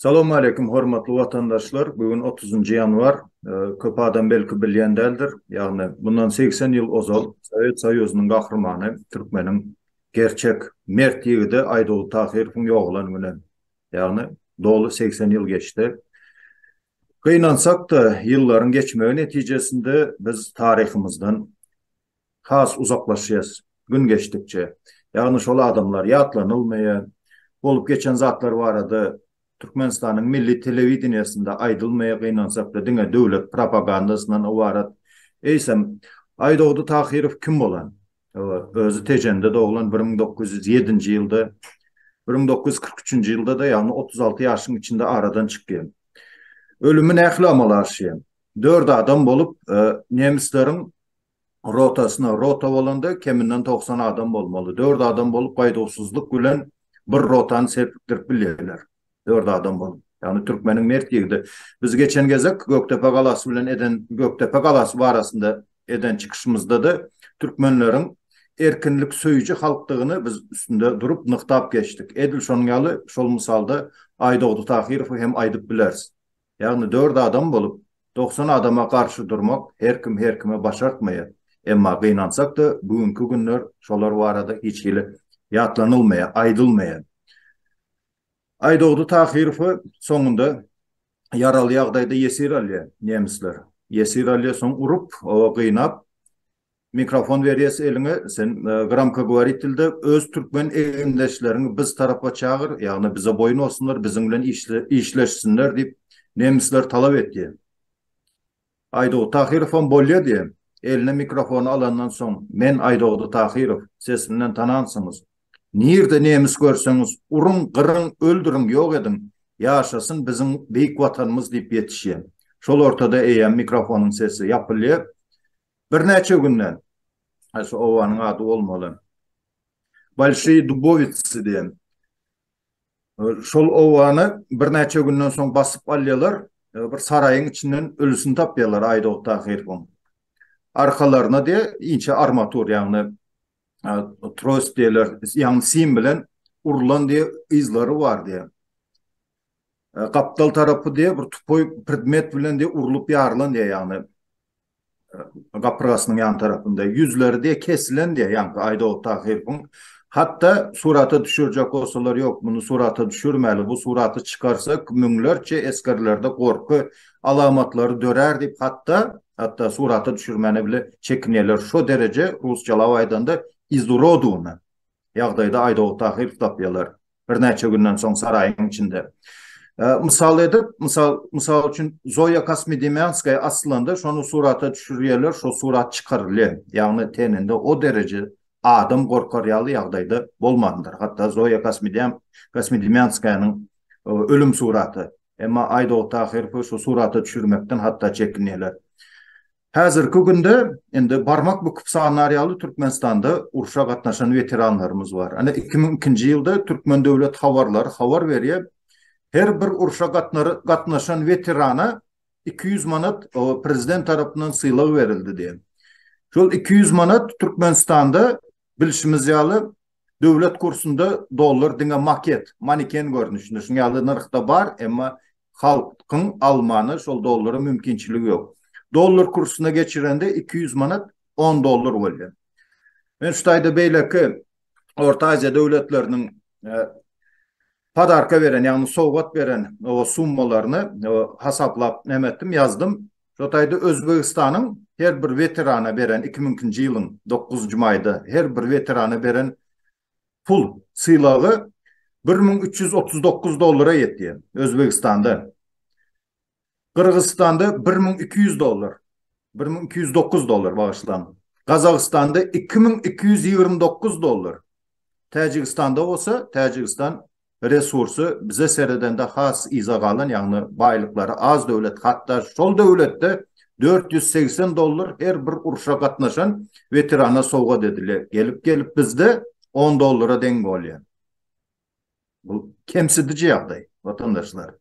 Salam aleýkum hormatly watandaşlar bu gün otuz njy ýanwar köp adam belki bilýän däldir ýagny mundan segsen ýyl ozal sowet soýuzynyň gahrymany türkmeniň gerçek mert ýigidi aýdoly tahyrowyň ýogalan güni ýagny doly segsen ýyl geçdi Gynansak-da, ýyllaryň geçmegi netijesinde biz taryhymyzdan has uzaklaşýas, gün geçdikçe. Ýagny şol adamlar ýatlanylmaýar, bolup geçen zatlar barada Türkmenistanyň milli telewideniýesinde aýdylmaýar, gynansak-da diňe döwlet propagandasyndan ybarat. Eýsem, Aýdogdy Tahyrow kim bolan? Hawa, özi Tejende doglan bir müň dokuz ýüz ýedinji ýylda, bir müň dokuz ýüz kyrk üçünji ýylda-da, ýagny otuz alty ýaşyň içinde aradan çykýan. Ölümi nähili amala aşýan? Dört adam bolup, nemisleriň rotasyna, rota bolanda keminden togsan adam bolmaly, dört adam bolup gaýduwsyzlyk bilen bir rotany serpikdirip bilýärler. Dört adam bolup. Ýagny türkmeniň mert ýigidi. Biz geçen gezek Gökdepe galasy bilen eden Gökdepe galasy barasynda eden çykyşymyzda-da türkmenleriň erkinlik söýüji halkdygyny biz üstünde durup nygtap geçdik. Edil şonuň ýaly şol mysalda Aýdogdy Tahyrowy hem aýdyp bileris. Ýagny dört adam bolup dogsan adama garşy durmak her kim her kime başartmaýar. Emma gynansak-da bu günki günler şolar barada hiç hili ýatlanylmaýar, aýdylmaýar. Aýdogdy Tahyrowy soňunda ýaraly ýagdaýda ýesir alýar nemisler. Ýesir alýar, soň urup, oba gynap, mikrofon berýär eliňe, sen gramkogovoritelde öz türkmen egindeşleriňi biz tarapa çagyr, ýagny bize boýun bolsunlar, biziň bilen işleşsinler diýip, nemisler talap etýär. Aýdogdy Tahyrowam bolýa diýen. Eline mikrofony alandan soň, Men Aýdogdy Tahyrow, sesimden tanansyňyz. Nirde nemis görseňiz, uruň, gyryň, öldüriň, ýok ediň, ýaşasyn biziň beýik Watanymyz diýip ýetişýän. Şol ortada eýýäm mikrofonyň sesi ýapylýar. Birnäçe günden, şu obanyň ady bolmaly, Bolşiý Dubowiçsi diýen, Şol obany birnäçe günden soň basyp alýarlar, bir saraýyň içinden ölüsini tapýarlar Aýdogdy Tahyrowyň. Arkalaryna diýe inçe armatur, ýagny trost diýerler, ýagny sim bilen urlan diýe yzlary bar diýe. Gapdal tarapy diýe bir tupoý predmet bilen diýe urlup ýarylan diýe ýagny gapyrgasynyň ýan tarapynda ýüzleri diýe kesilen diýe ýaňky Aýdogdy Tahyrowyň hatda surata düşürjek bolsalar ýok muny surata düşürmäli bu suraty çykarsak müňlerçe esgerlerde gorky alamatlary dörär diýip hatda hatda surata düşürmäne bile çekinýärler şo dereje rusçalap aýdanda izurodiwny ýagdaýda Aýdogdy Tahyrowy tapýarlar. birnäçe günden soň saraýyň içinde. Mysal edip, mysal, mysal üçin Zoýa Kosmidemýanskaýa asylanda şony surata düşürýärler, şo surat çykarylýar. Ýagny teninde o dereje adam gorkar ýaly ýagdaýda bolmandyr. Hatda Zoýa Kosmidem, Kosmidemýanskaýanyň ölüm suraty. Emma Aýdogdy Tahyrowy şo surata düşürmekden hatda çekinýärler. Häzirki günde indi barmak büküp sannar ýaly Türkmenistanda urşa gatnaşan weteranlarymyz bar. Ine, iki müň ikinji ýylda Türkmen döwlet habarlary habar berýär, her bir urşa gatnaşan weterana iki ýüz manat prezident tarapyndan sylag berildi diýen. Şol iki ýüz manat Türkmenistanda bilşimiz ýaly Döwlet kursunda dollar diňe maket, maniken görnüşinde, şuň ýaly nyrhda bar, emma halkyň almana şol dollary mümkinçiligi ýok. Dollar kursuna geçirende iki ýüz manat on dollar bolýar. Men şu taýda beýleki Orta Aziýa döwletleriniň Padarka beren, ýagny sowgat beren o summalaryny hasaplap näme etdim, ýazdym. Şo taýda Özbegistanyň her bir weterana beren, iki müňkinji ýylyň dokuzynjy maýda her bir weterana beren pul sylagy bir müň üç ýüz otuz dokuz dollara ýetýär Özbegistanda. Gyrgyzystanda bir müň iki ýüz dollar, bir müň iki ýüz dokuz dollar, bagyşlaň, Gazagystanda iki müň iki ýüz ýigrimi dokuz dollar, Täjigistanda bolsa, Täjigistan resursy bize seredende has yza galan, ýagny baýlyklary az döwlet, hatda şol döwletde dört ýüz segsen dollar her bir urşa gatnaşan weterana sowgat edilýär, gelip-gelip bizde on dollara deň bolýar. Bu kemsidiji ýagdaý, watandaşlar.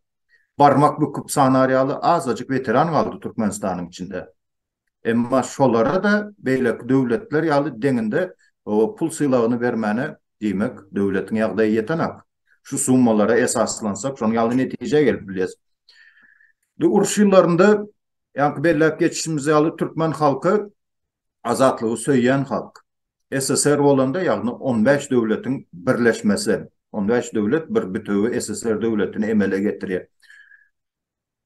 Barmak büküp sanar ýaly azajyk weteran galdy Türkmenistanyň içinde. Emma şolara-da beýleki döwletler ýaly deňinde pul sylagyny bermäne, diýmek, döwletiň ýagdaýy ýetenak. Şu summalara esaslansak, şonuň ýaly netijä gelip bilýäs. Indi uruş ýyllarynda, ýaňky belläp geçişimiz ýaly, türkmen halky azatlygy söýýän halk. SSR bolanda, ýagny on bäş döwletiň birleşmesi, on bäş döwlet bir bütewi SSR döwletini emele getirýär.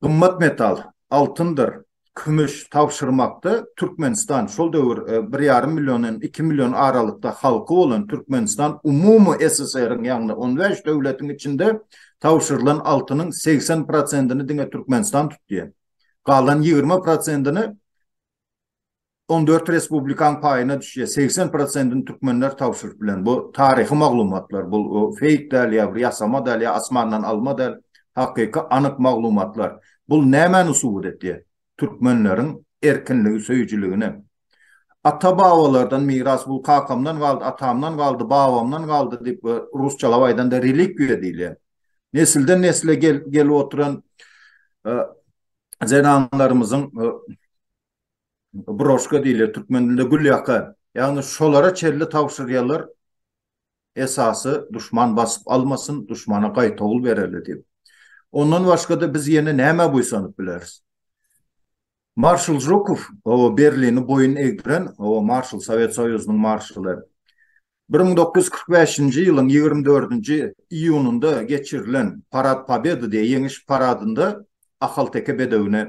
Gymmat metal, altyndyr, kümüş tabşyrmakda Türkmenistan, şol döwür bir ýarym milliondan iki million aralykda halky bolan Türkmenistan umumy SSR-iň, ýagny on bäş döwletiň içinde tabşyrylan altynyň segsen prosentini diňe Türkmenistan tutýar. Galan ýigrimi prosentini On dört respublikan paýyna düşýär. Segsen prosentini türkmenler tabşyryp bilen. Bu taryhy maglumatlar. Bu feýk däl ýa bir ýasama däl ýa asmandan alma däl. Hakyky anyk maglumatlar. Bu nämäni subut etýär? Türkmenleriň erkinligi söýüjiligini. Ata-babalardan miras bu kakamdan galdy, atamdan galdy, babamdan galdy diýip rusçalap aýdanda relikwiýa diýilýär. Nesilden-nesle gelip oturan zenanlarymyzyň broşka diýilýär türkmen dilinde gülýaka, ýagny şolara çenli tabşyrýarlar, esasy duşman basyp almasyn, duşmana gaýtawul bereli diýip. Ondan başga-da biz ýene nämä buýsanyp bileris? Marşal Žukow, Berlini boýun egdiren marşal, Sowet Soýuzynyň marşaly. Bir müň dokuz ýüz kyrk bäşinji ýylyň ýigrimi dördünji iýunynda geçirilen Parad Pobedy diýen ýeňiş paradynda ahalteke bedewine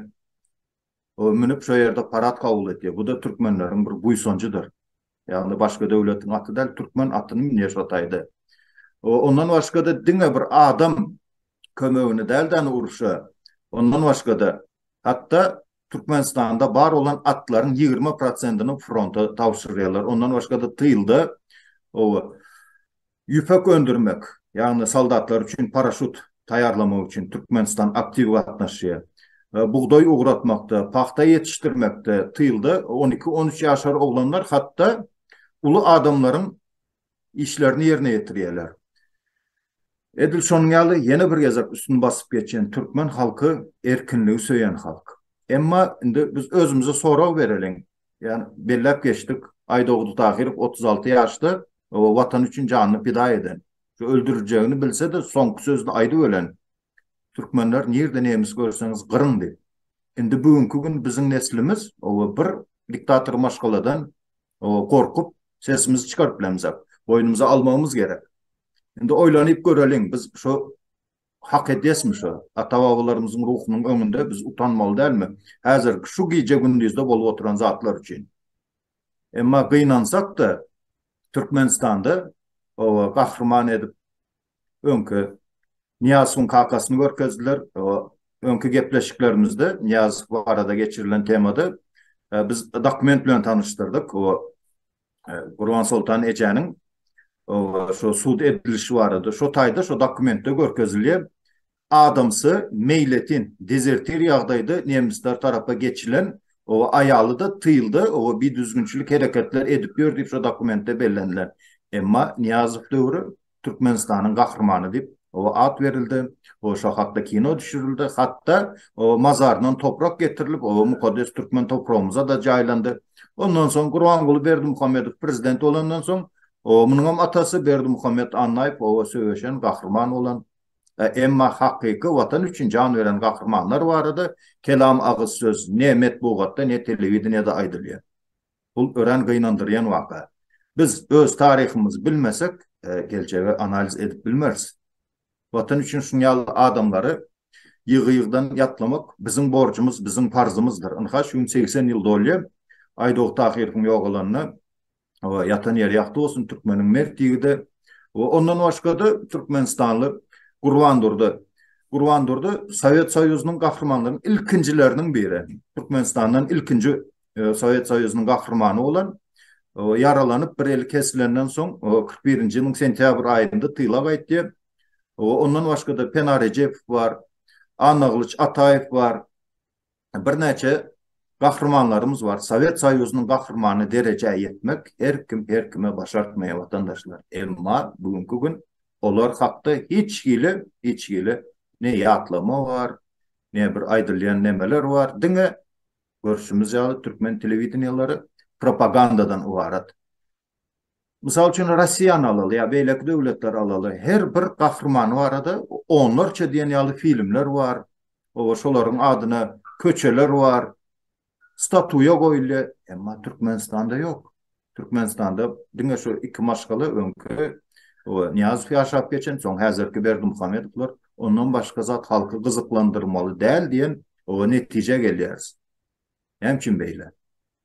münüp şo ýerde parad kabul edýär. Bu-da türkmenleriň bir buýsanjydyr. Ýagny başga döwletiň aty däl, türkmen atyny münýär şo taýda. Ondan başga-da diňe bir adam kömegine däl-de, ony urşa, ondan başga-da hatda Türkmenistanda bar bolan atlaryň ýigrimi prosentini fronta tabşyrýarlar. Ondan başga-da tylda oba ýüpek öndürmek, ýagny soldatlar üçin paraşut taýýarlamak üçin Türkmenistan aktiw gatnaşýar. Bugdaý ugratmakda, pagta ýetişdirmekde tylda on iki-on üç ýaşar oglanlar hatda uly adamlaryň işlerini ýerine ýetirýärler. Edil şonuň ýaly ýene bir gezek üstüni basyp geçýän türkmen halky erkinligi söýen halk. Emma indi biz özümize sorag bereliň. Ýa belläp geçdik, Aýdogdy Tahyrow otuz alty ýaşda Watan üçin janyny pida eden, şu öldüriljegini bilse-de soňky sözüni aýdybölen Türkmenler nirde nemis görseňiz gyryndy. Indi bu günki gün biziň neslimiz owa bir diktator maşgaladan owa gorkup sesimizi çykaryp bilemizak. Boýnumyza almagymyz gerek. Indi oýlanyp göreliň biz şu hak edesmi şu ata babalarymyzyň ruhunyň öňünde biz utanmaly dälmi? Häzir şu gije gündizde bolup oturan zatlar üçin. Emma gynansak da Türkmenistanda owa gahryman edip öňki Nyýazowyň kakasyny görkezdiler. Öňki gepleşiklerimizde Nyýazow barada geçirilen temada biz dokument bilen tanyşdyrdyk. Gurbansoltan ejäniň şu sud edilişi barada, şu taýda şu dokumentde görkezilýär. adamsy, meýletin, dezertir ýagdaýda nemisler tarapa geçilen, oba aýaly-da tylda, oba bidüzgünçilik hereketler edip ýör diýip şo dokumentde bellenilen. Emma Nyýazow döwri Türkmenistanyň gahrymany diýip, oba at berildi, oba şo hakda kino düşürildi, hat-da oba mazaryndan toprak getirilip, oba mukaddes türkmen topragymyza-da jaýlandy. Ondan soň Gurbanguly Berdimuhamedow prezident bolandan soň, oba munuňam atasy Berdimuhamet Annaýew oba söweşen, gahryman bolan. Emma hakyky Watan üçin jan beren gahrymanlar barada kelam agyz söz ne metbugatda, ne telewideniýede aýdylýar. Bul örän gynandyrýan waka. Biz öz taryhymyzy bilmesek, geljegi analiz edip bilmeris. Watan üçin şuň ýaly adamlary ýygy-ýygydan ýatlamak biziň borjumyz, biziň parzymyzdyr. Ynha şu gün segsen ýyl dolýar Aýdogdy Tahyrowyň ýogalanyna. Oba ýatan ýeri ýagty bolsun türkmeniň mert ýigidi. Oba ondan başgada türkmenistanly Gurban Durdy. Gurban Durdy Sowet Soýuzynyň gahrymanlarynyň ilkinjileriniň biri. Türkmenistandan ilkinji e, Sowet Soýuzynyň gahrymany bolan ýaralanyp bir eli kesilenden soň 41-nji ýylyň sentýabr aýynda tyla gaýtdy. Ondan başga-da Pena Rejepow bar, Annagylyç Ataýew bar. birnäçe gahrymanlarymyz bar. Sowet Soýuzynyň gahrymany derejä ýetmek her kim her kime başartmaýar watandaşlar. Emma bu günki gün olar hakda hiç hili hiç hili ne ýatlama bar, ne bir aýdylýan nemeler bar. Diňe görşümiz ýaly türkmen telewideniýelary propagandadan ybarat. Mysal üçin, Russiýany alaly ýa beýleki döwletleri alaly, her bir gahrymany barada onlarça diýen ýaly filmler bar, oba şolaryň adyna köçeler bar, statuýa goýulýar, emma Türkmenistanda ýok. Türkmenistanda diňe şu iki maşgala öňki oba Nyýazow ýaşap geçen, soň häzirki Berdimuhamedowlar, ondan başga zat halky gyzyklandyrmaly däl diýen oba netijä gelýäris. Näme üçin beýle?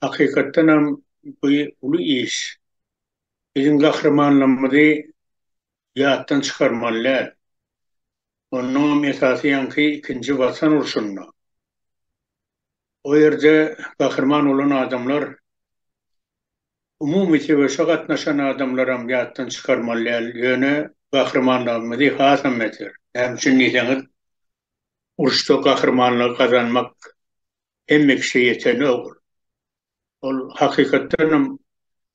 Hakykatdan hem bu uly iş. Biziň gahrymanlarymyzy ýatdan çykarmaly däl. Onnoň hem esasy ýaňky ikinji watan urşunda. O ýerde gahryman bolan adamlar umumy söweşe gatnaşan adamlaram ýatdan çykarmaly däl. Ýöne gahrymanlygymyzy hasam beter. Näme üçin diýseňiz, uruşda gahrymanlygy gazanmak hemme kişä ýeten ogul. Ol hakykatdan hem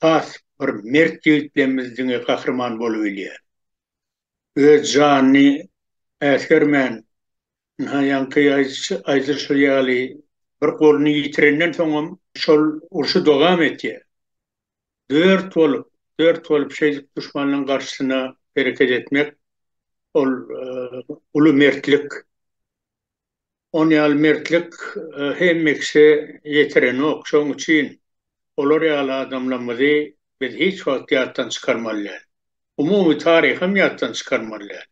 has bir mert ýigit demmiz diňe gahryman bolubilýär. Öz janyny äsgermän, ynha ýaňky aýdylyşy ýaly bir goluny ýitirenden soňam şol urşy dogam etýär. Dört bolup, dört bolup şeýdip duşmanlaň garşysyna hereket etmek ol uly mertlik. Ony ýaly mertlik hemmiksi ýetirenok, şoň üçin olar ýaly adamlarmyzy biz hiç wagt ýatdan çykarmaly däl. Umumy taryham ýatdan çykarmaly däl.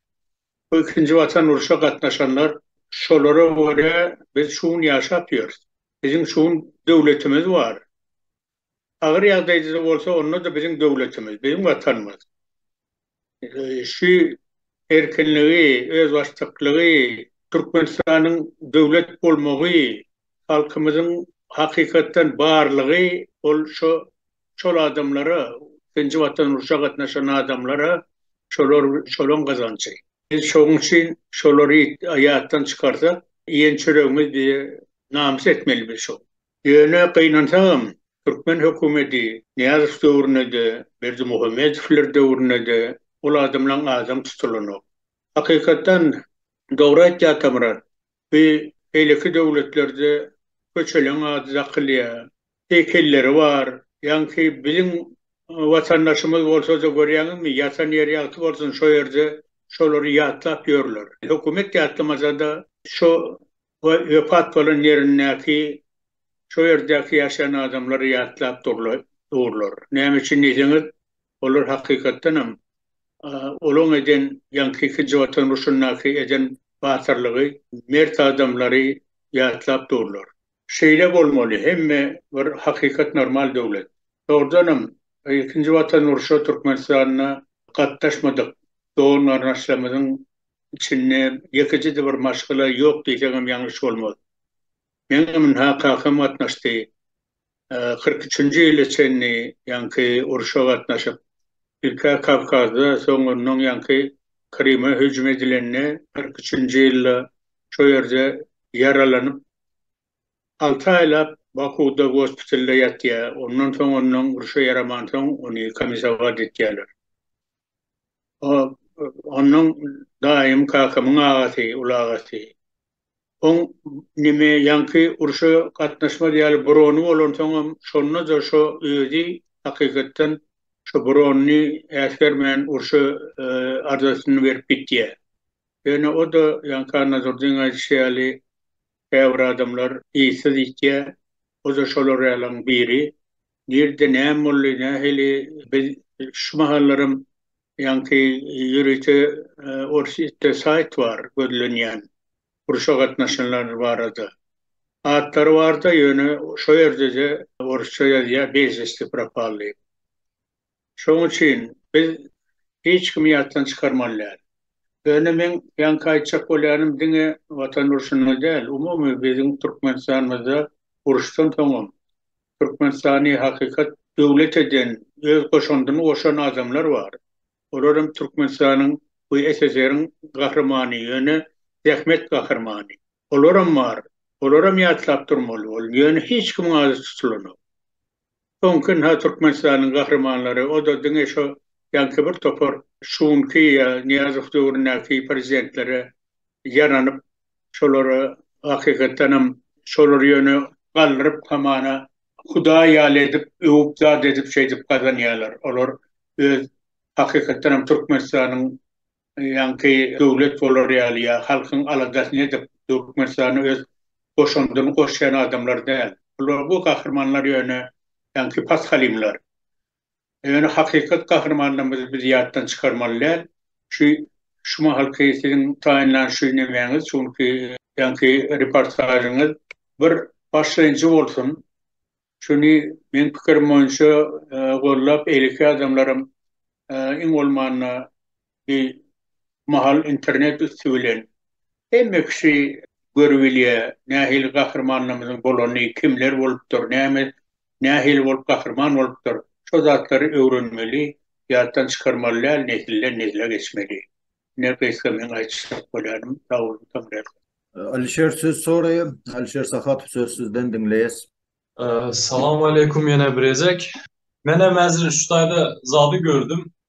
Bu ikinji watan urşa gatnaşanlar şolara görä biz şugun ýaşap ýörüs. Biziň şugun döwletimiz bar. Agyr ýagdaýda-da bolsa, onda-da biziň döwletimiz, biziň Watanymyz şu erkinligi, özbaşdaklygy, Türkmenistanyň döwlet bolmagy, halkymyzyň hakykatdan barlygy ol şo şol adamlara, ikinji Watan urşa gatnaşan adamlara şolar şolaň gazanjy. Biz şoň üçin şolary ýatdan çykarsak, iýen çöregimiz bize namys etmeli biz şo. Ýöne gynansagam, türkmen hökümeti Nyýazow döwründe-de, Berdimuhamedowlar döwründe-de ol adamlaň adam tutulanok. Hakykatdan, dogry aýtdy Atamyrat, bi beýleki döwletlerde köçeleň ady dakylýar, heýkelleri bar, ýaňky biziň watandaşymyz bolsa-da görýäňizmi, ýatan ýeri ýagty bolsun, şo ýerde şolary ýatlap ýörler. Hökümet ýatlamasa-da, şo we wepat bolan ýerindäki, şo ýerdäki ýaşaýan adamlary ýatlap durlar. Näme üçin diýseňiz, olar hakykatdan hem olaň eden, ýaňky ikinji Watan urşundaky eden batyrlygy, mert adamlary ýatlap durlar. Şeýle bolmaly, hemme bir hakykat normal döwlet. Dogrudan hem, ikinji Watan urşa Türkmenistanda gatnaşmadyk dogan-garyndaşlarymyzyň içinde ýekeje-de bir maşgala ýok diýseňem ýalňyş bolmaz. Meň ynha kakam gatnaşdy. Kyrk üçünji ýyla çenli ýaňky urşa gatnaşyp, ilk-ä Kawkazda, soň ondan ýaňky Kryma hüjüm edilende, kyrk üçünji ýylda şo ýerde ýaralanyp, alty aýlap Bakuwda gospitalda ýatýar. Ondan soň ondan urşa ýaramansoň, ony komisawa ditýärler. Onnoň daýym kakamyň agasy, ulagasy. Oň neme ýaňky urşa gatnaşmaz ýaly burony bolansoňam şonda-da şo özi hakykatdan şo buronyny äsgermän urşa arzasyny berip gitýär. Ýöne o-da ýaňky Annadurdyň aýdyşy ýaly käbir adamlar yzsyz ýitýär. O-da şolar ýalaň biri. Nirde näme boldy, nähili biz şu mahallaram ýaňky ýörite orsýetde saýt bar gözlenýän urşa gatnaşanlar barada. Atlary barda ýöne şo ýerdede orsça ýazýa bezvesti propal diýip. Şoň üçin biz hiç kimi ýatdan çykarmaly däl. Ýöne meň ýaňky aýtjak bolýanym diňe watan urşunda däl umumy biziň türkmenistanymyzda uruşdan soňam Türkmenistany hakykat döwlet eden, öz goşandyny goşan adamlar bar. Olar hem Türkmenistanyň we SSR-iň gahrymany, ýöne zähmet gahrymany. Olaram bar. Olaram ýatlap durmaly bol, ýöne hiç kimiň ady tutulanok. Soňky ynha Türkmenistanyň gahrymanlary, o-da diňe şo ýaňky bir topar şu günki ýa Nyýazow döwründäki prezidentlere ýaranyp, şolary hakykatdan hem şolary ýöne galdyryp hamana hudaý ýaly edip öwüp zat edip şeýdip gazanýarlar olar öz hakykatdan hem Türkmenistanyň ýaňky döwlet bolar ýaly ýa halkyň aladasyny edip Türkmenistana öz goşandyny goşýan adamlar däl bular bu gahrymanlar ýöne ýaňky pashalymlar Ýöne hakykat gahrymanlarymyzy biz ýatdan çykarmaly däl. Şu şu mahalky siziň taýynlan şu nemäňiz, şu günki ýaňky reportažyňyz bir başlanýjy bolsun. Şuny meň pikirim boýunça gollap eýleki adamlaram iň bolmanda Bir mahal internet üsti bilen hemme kişi görüp bilýär, nähili gahrymanlarymyzyň bolanyny, kimler bolupdyr, näme, nähili bolup gahryman bolupdyr. Şo zatlary öwrenmeli, ýatdan çykarmaly däl, nesilden nesle geçmeli. Ine, gysga meň aýtjak bolýanym. Sag boluň, tam rähmet. Alişer söz soraýar. Alişer Sahatow söz sizden diňleýäs. Salam aleýkum ýene bir gezek. Menem häzir şu taýda zady gördüm.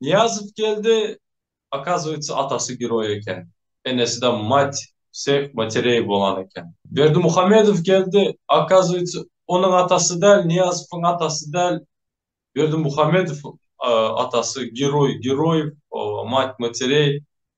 Nyýazow geldi, okazywýetsa atasy geroý eken, enesida mati, pseh, matereý bolan eken. Berdimuhamedow geldi, okazywýetsa onuň atasy däl, Nyýazowyň atasy däl, Berdimuhamedowyň atasy geroý, Geroýew, mati matereý,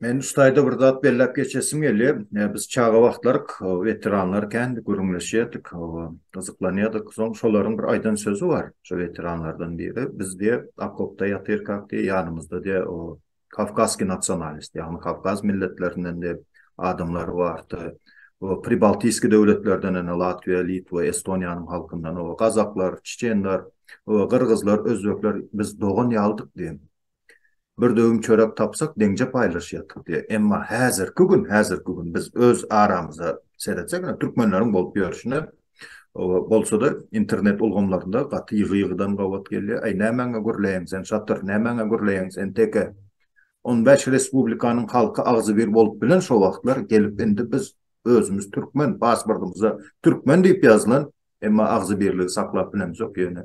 Men ustaýda bir zat belläp geçesim gelýär. Biz çaga wagtlary weteranlar kän gürrüňleşýärdik, gyzyklanýardyk. Soň şolaryň bir aýdan sözi bar, şo weteranlardan biri. Biz diýe okopda ýatyrkak diýe ýanymyzda diýe o kawkazskiý nasionalist, ýagny kawkaz milletlerinden diýe adamlar bardy. O pribaltiskiý döwletlerden ene Latwiýa, Litwa, Estoniýanyň halkyndan o gazaklar, çeçenler, o gyrgyzlar, özbekler biz dogan ýalydyk diýe. Bir döwüm çörek tapsak, deňje paýlaşýardyk diýýär. Emma häzirki gün, häzirki gün biz öz aramyza seretsek, ine, türkmenleriň bolup ýörşüne, bolsa-da, internet ulgamlarynda gaty ýygy-ýygydan gabat gelýär. Aý, nämäňe gürleýäň sen, şatyr, nämäňe gürleýäň sen, teke? On bäş respublikanyň halky agzybir bolup bilen şo wagtlar, gelip indi biz özümiz türkmen, pasportymyza türkmen diýip ýazylan, emma agzybirligi saklap bilemzok ýöne.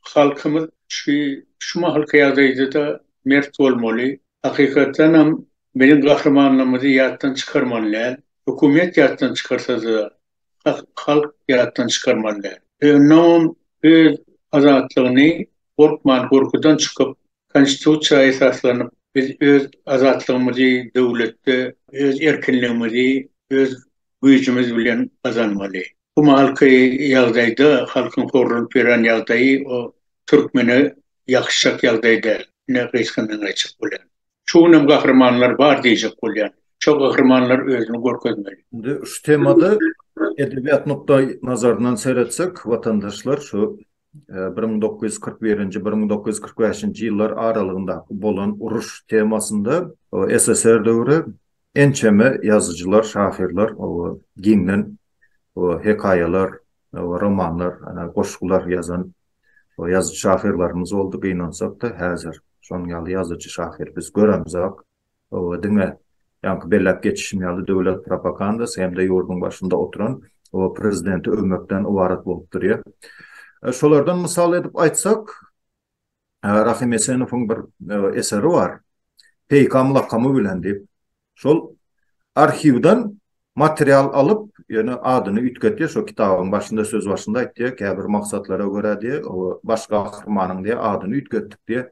halkymyz şu şu mahalky ýagdaýda-da mert bolmaly. Hakykatdan hem biziň gahrymanlarymyzy ýatdan çykarmaly däl. Hökümet ýatdan çykarsa-da, hak, halk ýatdan çykarmaly däl. Ýöne olam öz azatlygyny gorkman, gorkudan çykyp, Konstitusiýa esaslanyp, biz öz azatlygymyzy döwletde öz erkinligimizi öz güýjümiz bilen gazanmaly. Bu mahalky ýagdaýda halkyň horlunyp ýören ýagdaýy o türkmene ýakyşjak ýagdaý däl. Ine, gysgyndan aýtjak bolýan. Şu günem gahrymanlar bar diýjek bolýan. Şo gahrymanlar özüni görkezmeli. Indi şu temada edebiýat nukdaýnazaryndan seretsek, watandaşlar şu bir müň dokuz ýüz kyrk birinji bir müň dokuz ýüz kyrk bäşinji ýyllar aralygyndaky bolan uruş temasynda SSR döwri ençeme ýazyjylar, şahyrlar giňden hekaýalar, romanlar, goşgular ýazan ýazyjy-şahyrlarymyz boldy. Gynansak-da, häzir şonuň ýaly ýazyjy-şahyr biz göremzok. Hawa, diňe ýaňky belläp geçişim ýaly döwlet propagandasy hem-de ýurduň başynda oturan prezidenti öwmekden ybarat bolup durýar. Şolardan mysal edip aýtsak, Rahym Esenowyň bir eseri bar, Peýkam lakamy bilen diýip. Şol arhiwden Material alyp, ýöne adyny üýtgetýär, şo kitabyň başynda söz başynda aýtýar, käbir maksatlara görä diýe, baş gahrymanyň diýe adyny üýtgetdik diýe.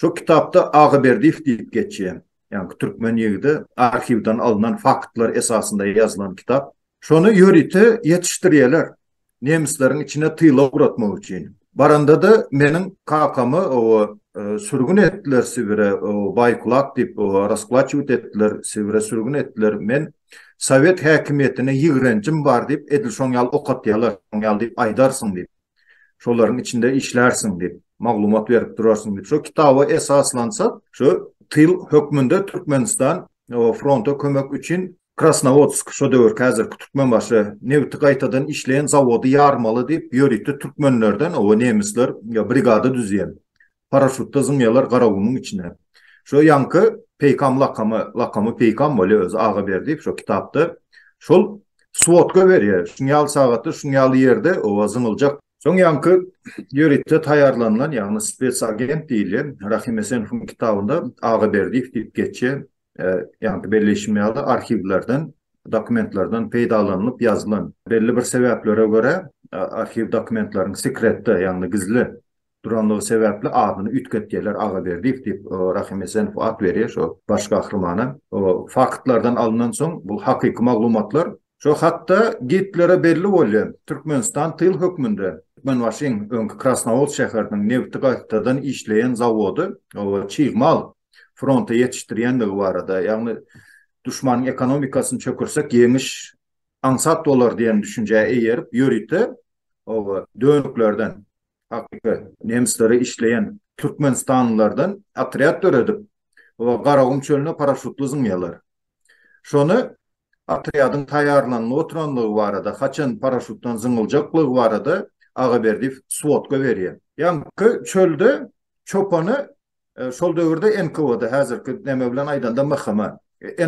Şo kitapda Agaberdiýew diýip geçýär. Ýaňky türkmen ýigidi, arhiwden alnan faktlar esasynda ýazylan kitap. Şony ýörite ýetişdirýärler. Nemisleriň içine tyla ugratmak üçin. Baranda-da meniň kakamy o e, sürgün etdiler Sibire, Baýkulak diýip rasplaçiwt etdiler, Sibire sürgün etdiler. Men Sowet häkimiýetine ýigrenjim bar diýip, edil şoň ýaly okatýarlar, şoň ýaly diýip aýdarsyň diýip. Şolaryň içinde işlärsiň diýip, maglumat berip durarsyň diýip. Şo kitaba esaslansa, şo tyl hökmünde Türkmenistan fronta kömek üçin Krasnowodsk şo döwürki häzirki Türkmenbaşy nebiti gaýtadan işleýän zawody ýarmaly diýip ýörite türkmenlerden oba nemisler brigada düzýär. Paraşutda zyňýalar garawunyň içine. Şo ýaňky Peýkam lakamy, lakamy Peýkam bolýa özi Agaberdiýew şo kitapda. Şol swodka berýä şuň ýaly sagatda şuň ýaly ýerde oba zyňyljak. Soň ýaňky ýörite taýýarlanylan ýagny spes agent diýilýän Rahimesenowyň kitabynda Agaberdiýew diýip geçýä. Ýa-da belleýşim ýaly, arhiwlerden, dokumentlerden peýdalanylyp ýazylan, belli bir sebäplere görä, arhiw dokumentleriň sekretde, ýagny gizli duranlygy sebäpli adyny üýtgetýärler, Agaberdiýew diýip, Rahym Esenow at berýär şo baş gahrymana. Faktlardan alyndan soň, bu hakyky maglumatlar. Şo hatda Gitlere belli bolýar, Türkmenistan tyl hökmünde Türkmenbaşyň, öňki Krasnawodsk şäheriniň nebiti gaýtadan işleýän zawody, çig mal fronta ýetişdirýändigi barada, ýagny duşmanyň ekonomikasyny çökersek ýeňiş aňsat bolar diýen düşünjä eýerip, ýörite oba dönüklerden, hakyky nemisleri işleýän türkmenistanlylardan otrýad döredip, oba Garagum çölüne paraşutly zyňýarlar. Şony otrýadyň taýýarlanyp oturandygy barada, haçan paraşutdan zyňyljaklygy barada Agaberdiýew swodka berýär. Ýaňky çölde çopany Şol döwürde NKWD, häzirki näme bilen aýdanda MHM,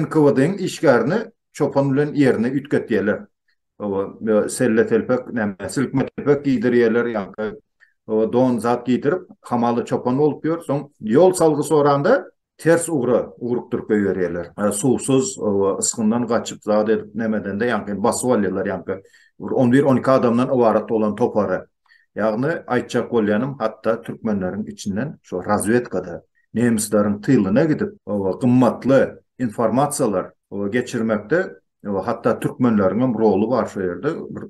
NKWD-iň işgärini çopan bilen ýerine üýtgetýärler. Oba, selle-telpek, näme, silkme-telpek geýdirýärler, ýaňky oba don zat geýdirip, hamala çopan bolup ýör. Soň ýol salgy soranda, ters ugra ugrukdyryp goýberýärler. Suwsuz, oba, ysgyndan gaçyp, zat edip, näme edende, ýaňky basyp alýarlar, ýaňky bir on bir, on iki adamdan ybarat bolan topary. Ýagny aýtjak bolýanym hatda türkmenleriň içinden şo razwedkada nemisleriň tylyna gidip oba gymmatly informasiýalar oba geçirmekde oba hatda türkmenleriňem roly bar şo ýerde bir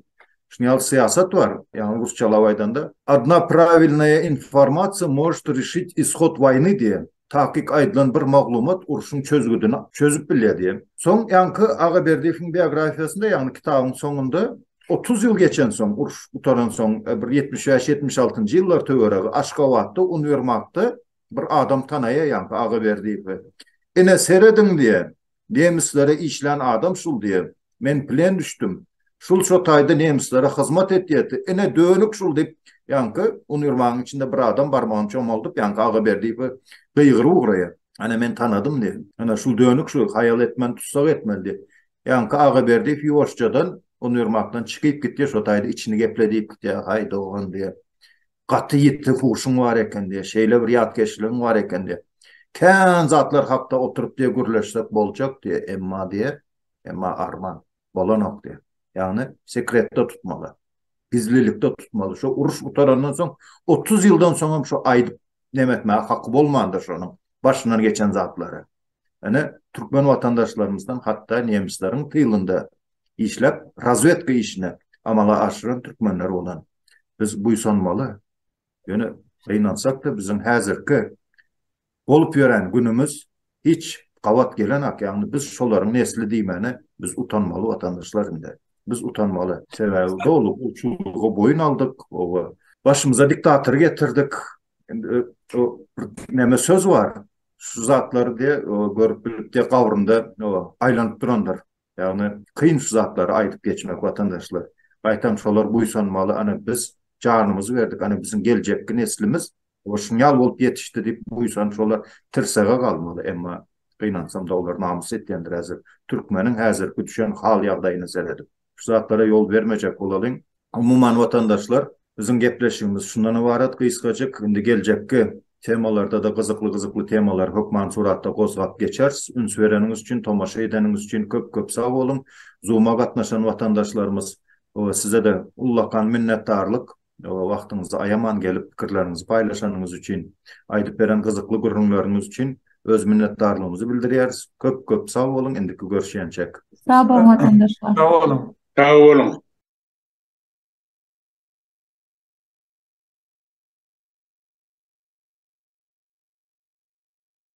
şuny ýaly syýasat bar ýagny rusçalap aýdanda odna prawilnaýa informasiýa možt rişit ishod waýny diýen Takyk aýdylan bir maglumat urşuň çözgüdini çözüp bilýär diýen. Soň ýaňky Agaberdiýewiň biografiýasynda, ýagny kitabyň soňunda otuz ýyl geçensoň, uruş gutaransoň, bir ýetmiş bäş-ýetmiş altynjy ýyllar töweregi Aşgabatda uniwermagda bir adam tanaýar ýaňky Agaberdiýewi. Ine, serediň diýýär. Nemislere işlän adam şul diýe. Men plen düşdüm. Şul şo taýda nemislere hyzmat etýärdi. Ine, dönük şul diýip, ýaňky uniwermagyň içinde bir adam barmagyny çomaldyp, ýaňky Agaberdiýewe gygyryp ugraýar. Ana, men tanadym diýe. Ana, şul dönük şul, haýal etmän tussag etmeli diýe. Ýaňky Agaberdiýew ýuwaşjadan uniwermagdan çykyp gitýär, şo taýda içini geple diýip gitýär, Haý, dogan diýe. gaty ýiti huşuň bar eken diýýär, şeýle bir ýatkeşligiň bar eken diýýär. Kän zatlar hakda oturyp diýýär gürleşsek boljak diýýär, emma diýýär, emma arman bolanok diýýär. Ýagny sekretde tutmaly. Gizlilikde tutmaly. Şu uruş gutarandan soň otuz ýyldan soňam şu aýdyp neme etmäge haky bolmandyr şonuň başyndan geçen zatlary. Ine, türkmen watandaşlarymyzdan hatda nemisleriň tylynda işläp, razwedka işini amala aşyran türkmenler bolan. Biz buýsanmaly. Ýöne gynansak-da, biziň häzirki bolup ýören günümiz hiç gabat gelenok. Ýagny biz şolaryň nesli diýmäne biz utanmaly watandaşlar indi. Biz utanmaly. Sebäbi doly gulçulyga boýun aldyk, oba. Başymyza diktator getirdik. Indi o näme söz bar? Şu zatlary diye görüp bilip diye gabrynda aýlanyp durandyr. Ýagny kyn şu zatlary aýdyp geçmek watandaşlar. Gaýtam şolar buýsanmaly, ana biz janymyzy berdik, ana biziň geljekki neslimiz o şunýal bolup ýetişdi diýip buýsanyp şolar tirsege galmaly. Emma gynansam-da olar namys etýändir häzir türkmeniň häzirki düşen hal-ýagdaýyna seredip. şu zatlara ýol bermejek bolalyň. Umuman watandaşlar, biziň gepleşigimiz şundan ybarat gysgajyk, indi geljekki temalarda-da gyzykly-gyzykly temalar hökman suratda gozgap geçeris. Üns bereniňiz üçin, tomaşa edeniňiz üçin köp-köp sag boluň. Zoom-a gatnaşan watandaşlarymyz, size-de ullakan minnetdarlyk. Wagtyňyzy aýaman gelip pikirleriňizi paýlaşanyňyz üçin, aýdyp beren gyzykly gürrüňleriňiz üçin öz minnetdarlygymyzy bildirýäris. Köp köp sag boluň indiki görşýänçäk. Sag boluň watandaşlar. Sag boluň. Sag boluň.